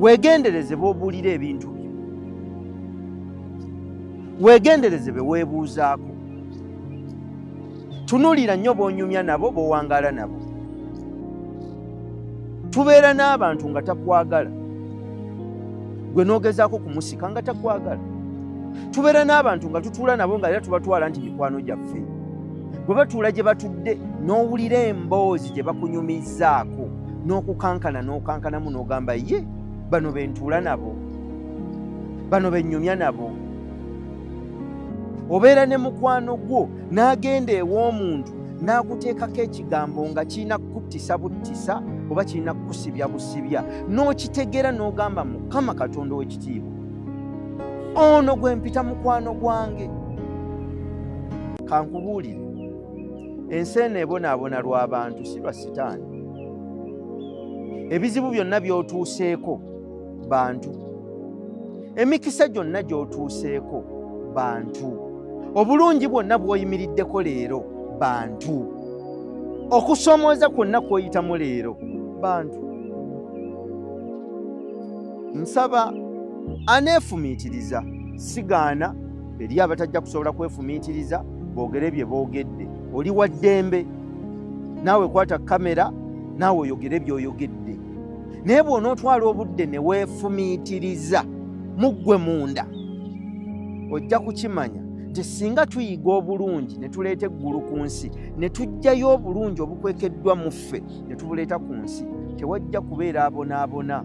weegendereze b'obuulira ebintu byo weegendereze be weebuuzaako tunuulira nnyo b'onyumya nabo b'owangaala nabo tubeera n'abantu nga takwagala gwe n'ogezaako kumusika nga takwagala tubeera n'abantu nga tutuula nabo nga era tubatwala nti mikwano gyaffe bwe batuula gye batudde n'owulira emboozi gye bakunyumizzaako n'okukankana n'okankanamu n'ogamba ye bano bentuula nabo bano benyumya nabo obeera ne mukwano gwo n'agenda ew'omuntu n'akuteekako ekigambo nga kirina kukuttisa buttisa oba kirina kukusibya busibya n'okitegeera n'ogamba mukama katonda ow'ekitiibwa ono gwe mpita mukwano gwange kankubuulire ensi eno ebonaabona lwa bantu si lwa sitaani ebizibu byonna by'otuuseeko bantu emikisa gyonna gy'otuuseeko bantu obulungi bwonna bw'oyimiriddeko leero bantu okusomooza kwonna kw'oyitamu leero bantu nsaba aneefumiitiriza sigaana Eriyo abatajja kusobola kwefumiitiriza boogere bye boogedde. Oli wa ddembe naawe kwata kamera naawe oyogere byoyogedde, naye bw'onootwala obudde ne weefumiitiriza mu ggwe munda ojja kukimanya nti singa tuyiga obulungi ne tuleeta eggulu ku nsi ne tuggyayo obulungi obukwekeddwa mu ffe ne tubuleeta ku nsi tewajja kubeera abonaabona.